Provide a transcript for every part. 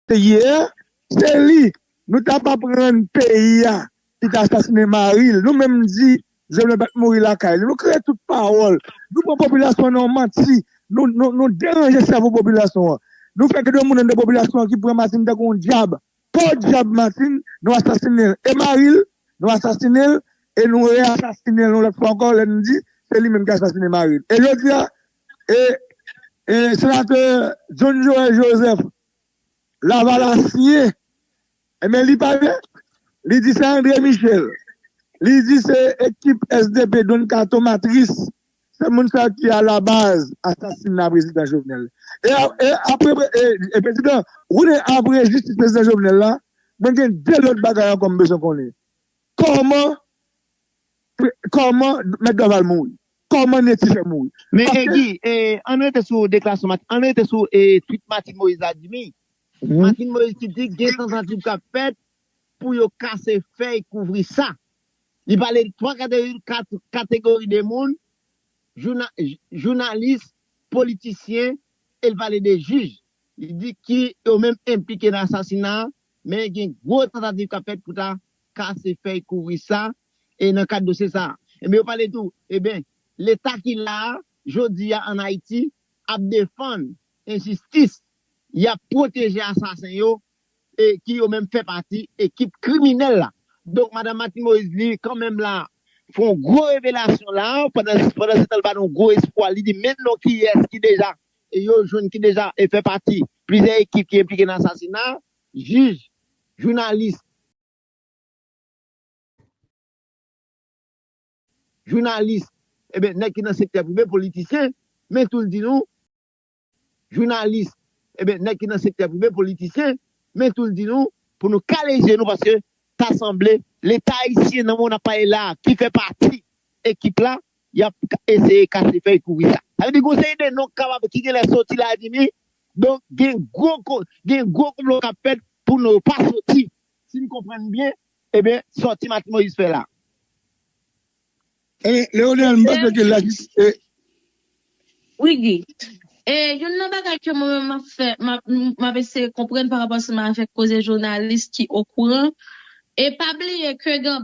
Peyi a se li nou ta pap rann peyi a ki ta asasine maril nou menm di jovenel pat mouri lakay li nou kreye tout pawòl nou pran popilasyon an nan manti nou deranje sèvo popilasyon an nou fè gen de moun anndan popilasyon an ki pran martine tankou yon djab podyab martine nou asasinel e maril nou asasinel e nou re asasinel yon lòt fwa ankò lèn di se li menm ki asasine maril e jodia E Senatè John Joel Joseph Lavalasyen enben li pale li di se André Michel li di se ekip sdp Don Kato Matris se moun sa ki alabaz asasina Prezidan Jovenel e apre Prezidan Roune apre jistis Prezidan Jovenel la mwen gen 2 lòt bagay ankò m bezwen konnen kòman kòman Mèt Dorval mouri. Koman Netty fè mouri? Men Egui, ann rete sou deklarasyon Martine, ann rete sou tweet Martine Moïse la Dimy, Martine Moïse ki di gen tantativ k ap fèt pou yo kase fèy kouvri sa. Li pale de 3 kategori de moun, jounalis, politisyen e l pale de jij, li di ki yo menm enplike nan asasina a, men gen gwo tantativ k ap fèt pou ta kase fèy kouvri sa e nan kad dosye sa a. Enben yo pale tou eben leta ki la a jodi a an Ayiti ap defann enjistis, y ap pwoteje asasen yo e ki yo menm fè pati ekip kriminèl la. Donk Madam Martine Moïse li kan menm la fè yon gwo revelasyon la a pandan pandan se tan li ba nou gwo espwa li di men non kiyès ki deja yo jwenn ki deja fè pati plizyè ekip ki enplike nan asasina a. Jij, jounalis. Jounalis, Eben, nèg ki nan sektè prive, politisyen, men tou l di nou. Jounalis, Eben, nèg ki nan sektè prive, politisyen, men tou l di nou. Pou nou kale je nou paske ta sanble. Leta ayisyen nan moman n ap pale la a ki fè pati ekip la, y ap eseye kase fèy kouri sa. Sa vle di gon seri de non k kapab, ki genlè soti la, di ni Donk gen gwo gen gwo konplo kap fèt pou nou pa soti. Sim konprann byen ebyen sòti Martine Moïse fè la. Ebyen Leonel m panse ke lajistis e. Wi Guy. E youn nan bagay ke mwen menm map fè map eseye konprann parapò seman avèk koze jounalis ki okouran e pa bliye ke gen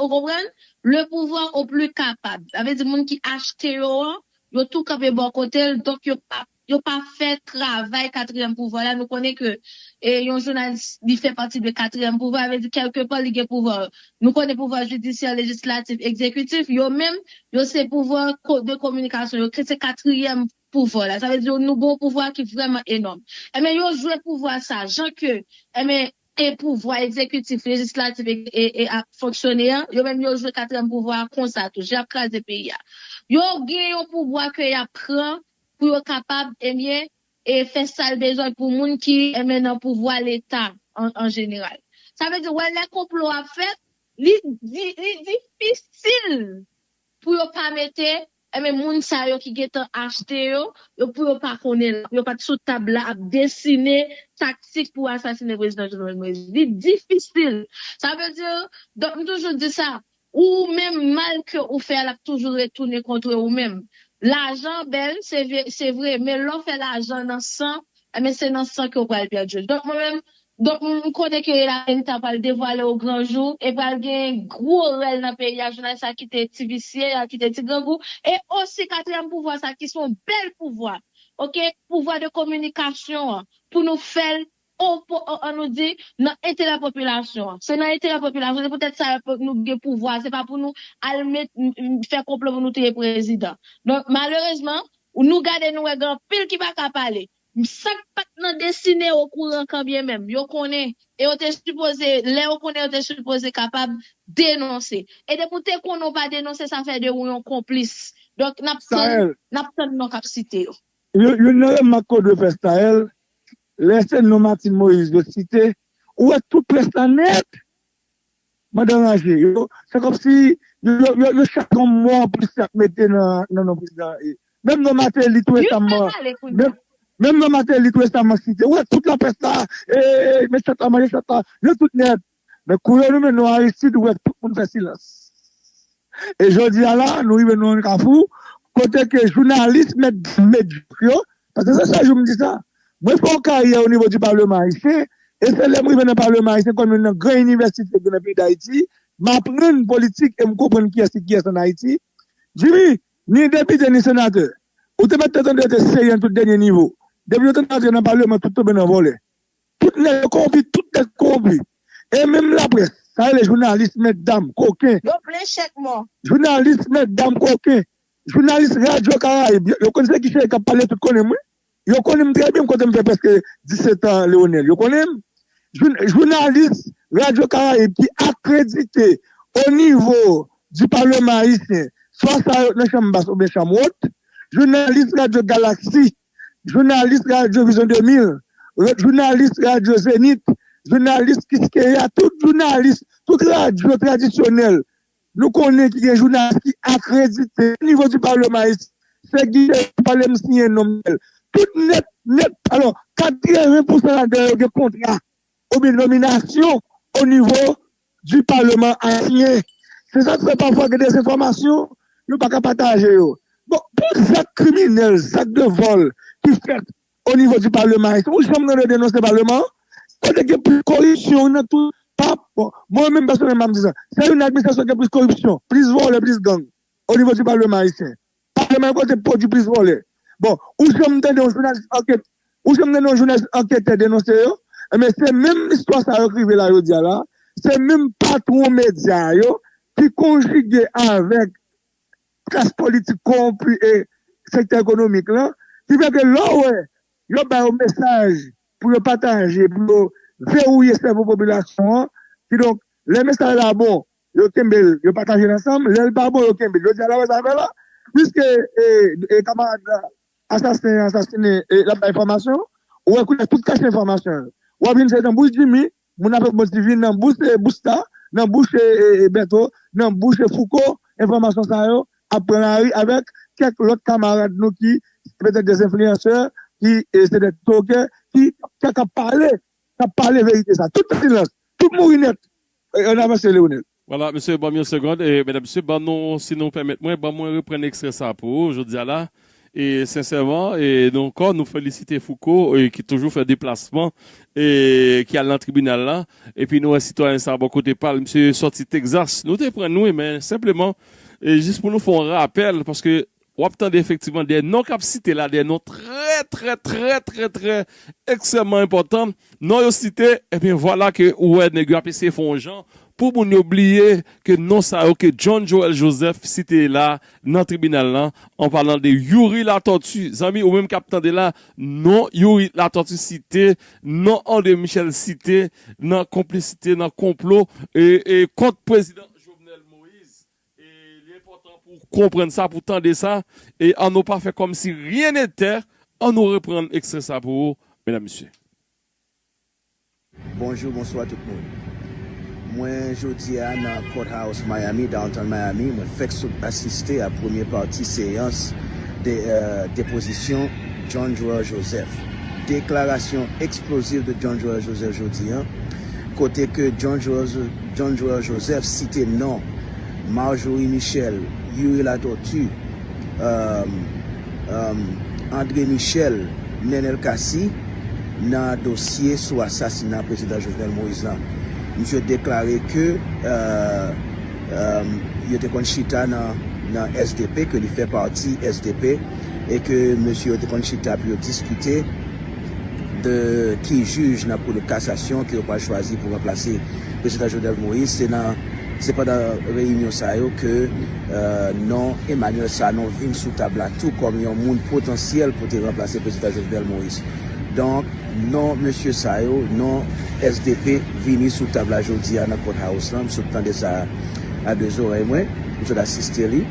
Ou konprann? Le pouvoir au plus capable. Sa vle di moun ki achte yo an, yo tou kanpe bò kote l, donk yo pa yo pa fè travay katriyèm pouvwa la. Nou konnen ke yon jounalis li fè pati de katriyèm pouvwa, sa vle di kèlke pò li gen pouvwa. Nou konnen pouvwa jidisyè, lejislatif, ekzekitif, yo menm yo se pouvwa de kominikasyon, yo se katriyèm pouvwa la. Sa vle di nou gen yon pouvwa ki vrèman enòm. Enben yo jwe pouvwa sa jan ke enben e pouvwa egzekitif, lejislatif e a fonksyone an, yo menm yo jwe katriyèm pouvwa a konsa tou, jan y ap kraze peyi a. Yo gen yon pouvwa ke y ap pran pou yo kapab, ebyen, e fè sa l bezwen pou moun ki, ebyen, nan pouvwa Leta an jeneral. Sa vle di, wè lè konplo ap fèt, li difisil pou yo pa mete Ebyen moun sa yo ki gentan achte yo, yo pou yo pa konnen la, pou yo pat sou tab la ap desine taktik pou asasine prezidan Jovenel Moïse. Li difisil. Sa vle di, donk m toujou di sa, ou menm mal ke ou fè a lap toujou retounen kontre ou menm. Lajan bèl se vre men lè w fè lajan nan san Ebyen se nan san ke w pral pèdi l. Donk mwen menm, donk m konnen ke la verite a pral devwale o gran jou e pral gen gwo rèl nan peyi a, jounalis sa ki te ti visye, y al kite ti grangou e osi katriyèm pouvwa sa ki se yon bèl pouvwa ok, pouvwa de kominikasyon an pou nou fè l o po o an nou di nan enterè popilasyon an. Se nan enterè popilasyon an, se poutèt sa yo pou nou gen pouvwa a, se pa pou nou al met fè konplo pou nou touye prezidan. Donk malerezman Ou nou gade nou wè gen anpil ki pa ka pale. Sa k pat nan desine okouran kanbyen menm yo konnen e yo te sipoze lè yo konnen yo te sipoze kapab denonse. E depi w te konnen w pa denonse sa fè de ou yon konplis. Donk n ap tann Staël. N ap tann non k ap site yo. Yon youn nan remak ke w dwe fè Staël, lè se non Martine Moïse yo site, ou wè tout près la nèt! Mandan ranje yo, se kòmsi yo chak gon mo anplis y ap mete nan non prezidan an e. Menm non Mateli tou resamman, menm non Mateli tou resamman site. Ou wè tout laprès la, e met chat la manje chat la, yo tout nèt. Men kou yo nonmen non Aristid, ou wè tout moun fè silans. E jodi a la, nou rive nan yon kafou, kote ke jounalis mèt di mèt jòf yo, Paske sa chak jou m di sa, mwen fè yon karyè o nivo di Palman Ayisyen, e se lè m rive nan Palman Ayisyen kòm youn nan gran inivèsite ki nan peyi Dayiti, m aprann politik e m konprann kiyès ki kiyès an Ayiti. Jimmy, ni depite ni senatè, ou te mèt te tande yo te serye nan tout dènye nivo. Depi yo te antre nan Palman, tout tonbe nan vòlè. Tout nèg yo kowonpi, tout nèg kowonpi. E menm laprès, sa rele jounalis mètdam, koken. Yo plen chèk mò. Jounalis mètdam koken. Jounalis radyo karayib yo konn se ki cheri kap pale tout konnen m wi yo konnin m trè byen m kote m fè prèske 17 ans Leonel yo konnen m jounalis radyo karayib ki akredite o nivo di palman ayisyen swa sa yo nan chanm bas oubyen chanm wot jounalis radyo galaksi jounalis radyo vizyon 2000 jounalis radyo zenit jounalis kiskeya tout jounalis tout radyo tradisyonèl Nou konnen ki gen jounalis ki akredite o nivo di palman ayisyen, se gide yo ki pale m siyen non m bel. Tout nèt, nèt, alò 80 pousan ladan yo gen kontra oubyen nominasyon o nivo di palman ayisyen. Se sa k fè pafwa gen de enfòmasyon yo pa ka pataje yo. Bon, pou zak kriminèl, zak de vòl ki fèt O nivo di paleman ayisyen ou janm tande yo denonse paleman an kote gen plis koripsyon nan tout pa mwen menm pèsonèlman m ap di sa se youn nan administrasyon gen plis koripsyon plis vòlè plis gang o nivo di paleman ayisyen paleman an kote pwodui plis vòlè bon ou janm tande yon jounalis ankèt ou janm tande yon jounalis ankètè denonse yo enben se menm istwa sa yo k rive la jodi a la se menm patwon medya yo ki konjige avèk. klas politik kowonpi e sektè ekonomik lan ki fè ke lè w wè yo ba yo mesaj pou yo pataje pou yo vewouye sèvo popilasyon an kidonk lè mesaj la bon yo kenbe l yo pataje l ansanm lè l pa bon yo kenbe l jodi a la wè zafè la piske e kamarad la asasen an asasinen e l ap bay enfòmasyon ou wè koulè tout kach enfòmasyon yo w ap jwenn se tanbouj jimi Moun ap bon ti vin nan bouch Busta, nan bouch Bertho, nan bouch Fouco, enfòmasyon sa yo ap pran lari avèk kèk lòt kamarad nou ki petèt des influenceurs, ki se des tokay, ki kap pale, kap pale verite sa. Tout silans, tout mouri nèt. An avanse Leonel. Voila mesye banm yon segond e medam mesye ban nou si nou pèmèt mwen ban mwen reprann ekstrè sa pou ou jodia la e sensèman e nou ankò nou felisite Fouco e ki toujou fè deplasman e ki al nan tribinal la epi nou wè sitwayen sa bò kote pal misye sòti Texas nou te prann wi men senpleman e jis pou nou fè yon rapèl paske W ap tande efektivman de non k ap site la, de non trè trè trè trè trè ekstrèmman enpòtan. Non yo site, ebyen vwala ke ou wè nèg yo ap eseye fè yon jan pou moun yo bliye ke non sa yo ke John Joel Joseph site la nan tribinal lan, an palan de Youri Latortue. Zanmi, ou menm k ap tande la, non Youri Latortue site, non André Michel site nan konplisite, nan konplo kont Prezidan Jovenel Moise. Li enpòtan pou w konprann sa, pou w tande sa, e an nou pa fè kòm si ryen netè, an nou reprann ekstrè sa pou ou, medam mesye. Bonjou bonswa tout moun mwen jodia nan court house Miami downtown Miami mwen fèk sot asiste a premye pati seyans depozisyon John Joel Joseph deklarasyon eksplozif de John Joel Joseph jodi an kote ke John Joel John Joël Joseph site non Marjorie Michel, Youri Latortue, um, um, André Michel, Nenel Cassy nan dosye sou asasina Prezidan Jovenel Moïse lan. Misye deklare ke, um, um, yo te konn chita nan, nan sdp, ke li fè pati sdp, e ke mesye yo te konn chita pou yo diskite. de ki jij nan kou de kasasyon ke yo pral chwazi pou ranplase Prezidan Jovenel Moïse, se nan se pandan reyinyon sa yo ke non Emmanuel Sanon vin sou tab la tou kòm yon moun potansyèl pou te ranplase Prezidan Jovenel Moïse. Donk non mesye sa yo, non sdp vini sou tab la jodi a nan Court House la, m sot tande sa a. a 2 zorèy mwen, m sot asiste li,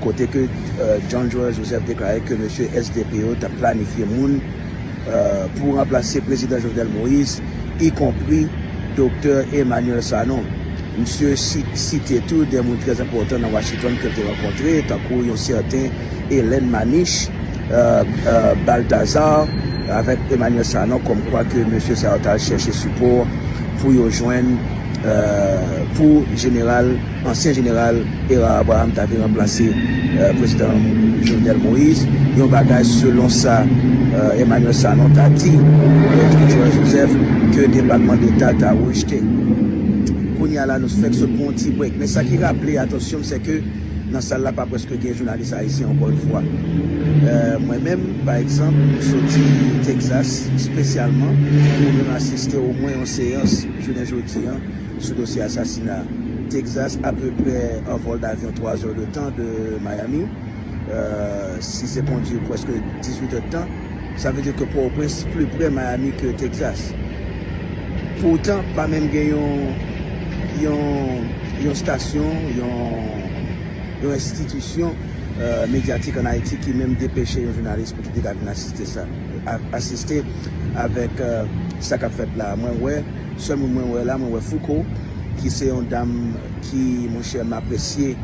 kote ke John Joël Joseph deklare ke mesye SDP yo t ap planifye moun pou ranplase Prezidan Jovenel Moïse, ikonpri Doktè Emmanuel Sanon. Misye site tou 2 moun trè enpòtan nan Washington ke l te rankontre, tankou yon sèten Helen Manich Balthazar avèk Emmanuel Sanon, kòmkwa ke mesye sa yo t al chèche sipò pou yo jwenn. pou jeneral, ansyen jeneral Hérard Abraham ta vin ranplase prezidan Jovenel Moïse, yon bagay selon sa Emmanuel Sanon ta di Maitre Joël Joseph ke Depatman Deta ta rejte. Kounye a la nou fèk sot pran yon ti break men sa ki raple atansyon m sèke nan sal la pa prèske gen jounalis ayisyen ankò yon fwa. Mwen menm pa egzanp m soti Texas spesyalman pou vin asiste omwen yon seyans. Jounen jodi an, sou dosye asasina Texas, apeprè 1 vòl davyon 3 zè de tan de Miami, si se kondi pwèske 18 è de tan, sa vle di ke Pòtoprens pli prè Miami ke Texas. Poutan, pa menm gen yon yon stasyon, yon yon enstitisyon medyatik an Ayiti ki menm depeche yon jounalis pou ki te ka vin asiste sa. asiste avèk sa kap fèt la mwen wè sèl moun mwen wè la mwen wè fouco ki se yon dam ki monchè m apresye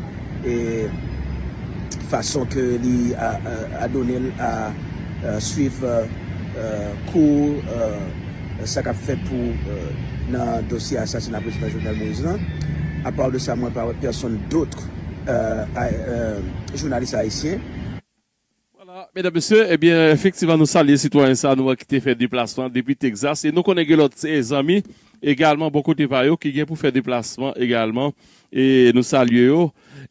fason ke li adone l a swiv kou sa kap fèt pou nan dosye asasina prezidan jovenel moise lan apaw de sa mwen pa wè pèsonn dotr jounalis ayisyen. Vwala, medam mesye, ebyen efektivman nou salye sitwayen sa nou an ki te fè deplasman depi Texas e nou konnen gen lòt zanmi egalman bò kote pa yo ki gen pou fè deplasman egalman e nou salye yo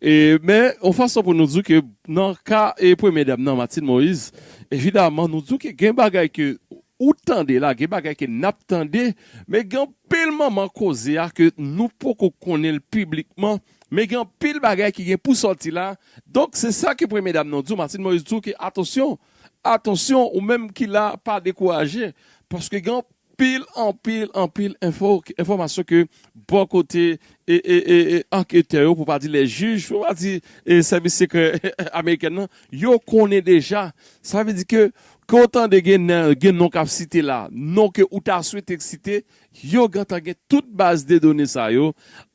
e men yon fason pou nou di w ke nan ka e premye dam nan Martine Moise evidaman nou di w ke gen bagay ke ou tande la, gen bagay ke n ap tande men gen anpil manman koze a ke nou poko konnen l piblikman Men gen anpil bagay ki gen pou sòti la, donk se sa ke premye dam nan di w, Martine Moïse di w ke atansyon, atansyon ou menm ki la pa dekouraje, paske gen anpil, anpil, anpil enfo, enfòmasyon ke bò kote anketè yo, pou pa di lè jij, pou pa di sèvis sekrè amerikèn nan, yo konnen deja. Sa vle di ke, ke w tande gen non k ap site la, non ke ou ta swete k site, Yo gentan gen tout baz de done sa yo.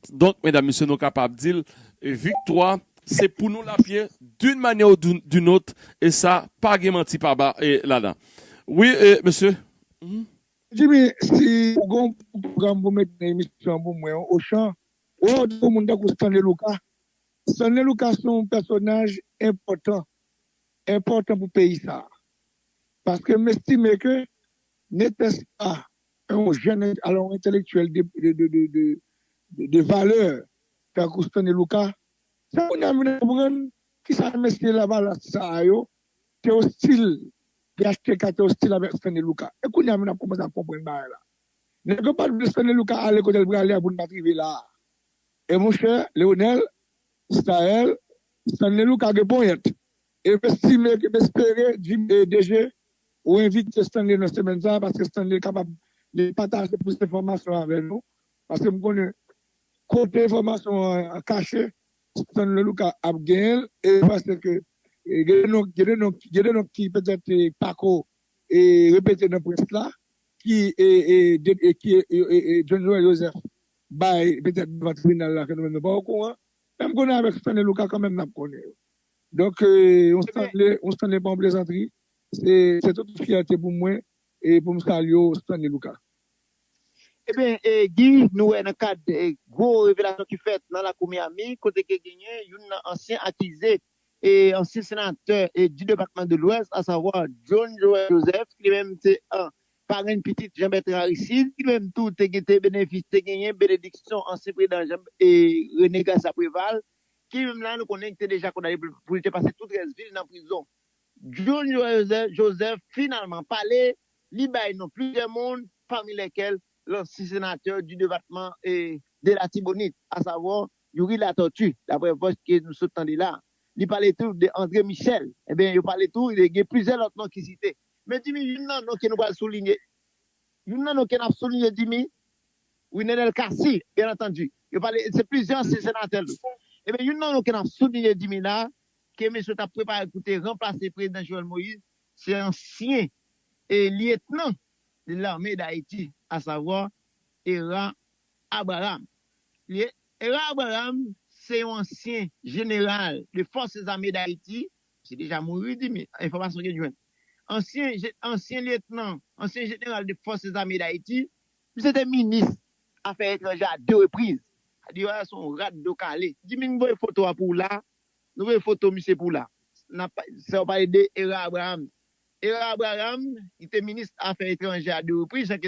Donk medam mesye nou kapab dil viktwa se pou nou lap ye d'une manière ou d'une autre e sa pa gen manti pa ba ladan wi mesye humm. Jimmy si ou gen yon pwogram pou met nan emisyon an pou mwen ou chan wè ou di pou moun tankou Stanley Luka Stanley Luka se yon pèsonaj enpòtan enpòtan pou peyi sa paske m estime ke netès pa yon jèn alò yon entèlektyèl de valè tankou Stanley Lucas, se kounye a m vin konprann ki sa mesye lavalas sa a yo te ostil, phtk te ostil avèk Stanley Lucas. E kounye a m vin ap kòmanse ap konprann bagay la. Nèg yo pa t vle Stanley Lucas ale kote l prale a pou n pa t rive la a. E monchè Leonel, Staël, Stanley Lucas gen ponyèt. E m estime ke m espere Jimmy DG ou envite Stanley nan semèn sa a paske Stanley kapab li pataje plis enfòmasyon avè nou paske m konnen kote enfòmasyon an kache Stanley Lucas ap genyen l e m panse ke gen de non gen de non gen de non ki petèt pa ko repete nan près la ki ki John Joël Joseph bay petèt devan tribinal la ke nou menm nou pa okouran men m konnen avèk Stanley Lucas kanmenm n ap konnen yo. Donk yon Stanley, yon Stanley pa yon plezantri, se tout yon fyète pou mwen e pou m salye w Stanley Luka. Ebyen Guy, nou wè nan kad gwo revelasyon ki fèt nan lakou Miami kote ke genyen youn nan ansyen akize e ansyen senatè di depatman de lwès asavwa John Joel Joseph ki li menm se parenn pitit Jean Bertrand Aristide ki li menm tou te genyen benediksyon ansyen prezidan René Garcia Préval Film la nou konnen te deja kondane pou li te pase tout rès vil nan prizon. Junior Joseph finalman pale, li bay non plizyè moun pami lèkèl lansi senatè di debatman de latibonit a savwa Youri Latortue daprè vòs ke nou sot tande la. Li pale tou de Andre Michel. Ebyen yo pale tou gen plizyè lòt non ki site. Men Jimmy youn nan non ke nou pral soulinye. Youn nan non ke nap soulinye Dimy, wi Nenel Cassy, byen antandi. Yo pale, se plizyè ansyen senatè l. Ebyen youn nan non ke nap soulinye Dimy la, ke mesye tap prepare pou te ranplase prezidan Jovenel Moïse, se ansyen lyetnan de lame dayiti, a savwa Hera Abraham. Li ye, Hera Abraham se yon ansyen jeneral de fòse zame dayiti, misye deja mouri Dimy, enfòmasyon ke n jwenn. ansyen ansyen lyetnan, ansyen jeneral de Forces Armées d'Haiti. Misye te minis afè etranje a 2 repriz. Diyo a son rat do kale. Jimmy m voye foto a pou w la, nou voye foto misye pou w la. Nap fè w pale de Herard Abraham. Herard Abraham, li te minis afè etranje a 2 repriz, jan ke.